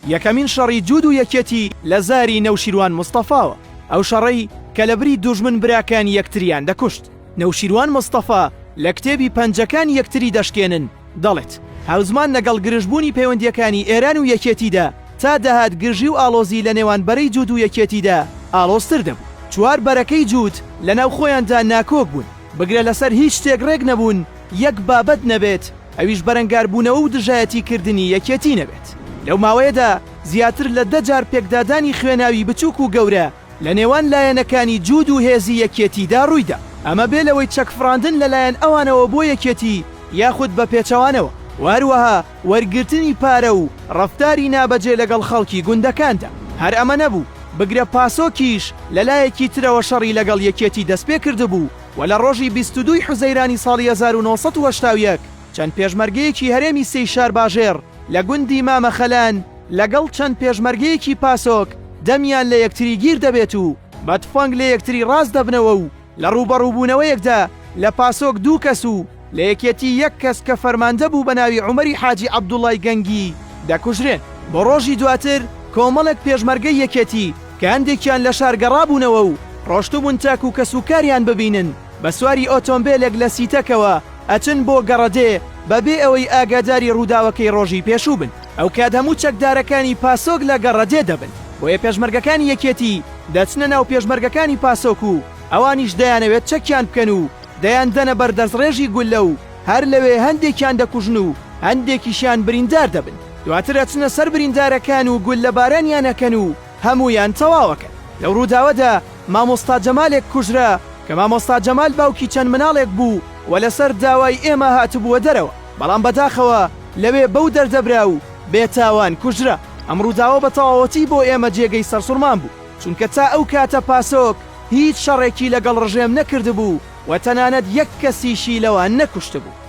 یەکەمین شەڕی جوود و یەکێتی لە زاری نەوشیروان مستەفاوە، ئەو شەڕەی کە لە بری دوژمن براکانی یەکتریان دەکوشت. نەوشیروان مستەفا لە کتێبی پەنجەکان یەکتری دەشکێنن دەڵێت، هاوزمان لەگەڵ گرژبوونی پەیوەندییەکانی ئێران و یەکێتیدا تا دەهات گرژی و ئاڵۆزی لە نێوان بەرەی جوود و یەکێتیدا ئاڵۆزتر دەبوو. چوار بەرەکەی جوود لە ناو خۆیاندا ناکۆک بوون. بگرە لەسەر هیچ شتێک ڕێک نەبوون یەک بابەت نەبێت، ئەویش بەرەنگاربوونەوە و دژایەتی کردنی یەکێتی نەبێت. لەو ماوەیەدا زیاتر لە دە جار پێکدادانی خوێناوی بچووک و گەورە لە نێوان لایەنەکانی جووت و هێزی یەکێتیدا ڕوویدا، ئەمە بێ لەوەی چەکفڕاندن لەلایەن ئەوانەوە بۆ یەکێتی یاخود بە پێچەوانەوە و هەروەها وەرگرتنی پارە و ڕەفتاری نابەجێ لەگەڵ خەڵکی گوندەکاندا. هەر ئەمە نەبوو، بگرە پاسۆکیش لە لایەکی ترەوە شەڕی لەگەڵ یەکێتی دەستپێکردبوو و لە ڕۆژی بیست و دووی حوزەیرانی ساڵی هەزار و نۆ سەد و هەشتا و یەک چەند پێشمەرگەیەکی هەرێمی سێی شارباژێڕ لە گوندی مامە خەلان لەگەڵ چەند پێشمەرگەیەکی پاسۆک دەمیان لە یەکتری گیر دەبێت و بە تفەنگ لە یەکتری ڕاست دەبنەوە و لە ڕووبەڕووبوونەوەیەکدا لە پاسۆک دوو کەس و لە یەکێتی یەک کەس کە فەرماندە بوو بە ناوی عومەری حاجی عەبدوڵای گەنگی دەکوژرێن. بۆ ڕۆژی دواتر کۆمەڵێک پێشمەرگەی یەکێتی کە هەندێکیان لە شار گەڕابوونەوە و ڕۆشتبوون تاکوو کەسوکاریان ببینن بە سواری ئۆتۆمبێلێک لە سیتەکەوە ئەچن بۆ گەڕەدێ بە بێ ئەوەی ئاگاداری ڕووداوەکەی ڕۆژی پێشوو بن. ئەوکات هەموو چەکدارەکانی پاسۆک لە گەڕەدێ دەبن، بۆیە پێشمەرگەکانی یەکێتی دەچنە ناو پێشمەرگەکانی پاسۆک و ئەوانیش دەیانەوێت چەکیان بکەن و دەیاندەنە بەر دەستڕێژی گوللە و هەر لەوێ هەندێکیان دەکوژن و هەندێکیشیان بریندار دەبن، دواتر ئەچنە سەر بریندارەکان و گوللەبارانیان ئەکەن و هەموویان تەواو ئەکەن. لەو ڕووداوەدا مامۆستا جەمالێک کوژرا، کە مامۆستا جەمال باوکی چەند مناڵێک بوو و لەسەر داوای ئێمە هاتبووە دەرەوە. بەڵام بەداخەوە لەوێ بەو دەردە برا و بێ تاوان کوژرا. ئەم ڕووداوە بە تەواوەتی بۆ ئێمە جێگەی سەرسوڕمان بوو، چونکە تا ئەو کاتە پاسۆک هیچ شەڕێکی لەگەڵ ڕژێم نەکردبوو و تەنانەت یەک کەسیشی لەوان نەکوشتبوو.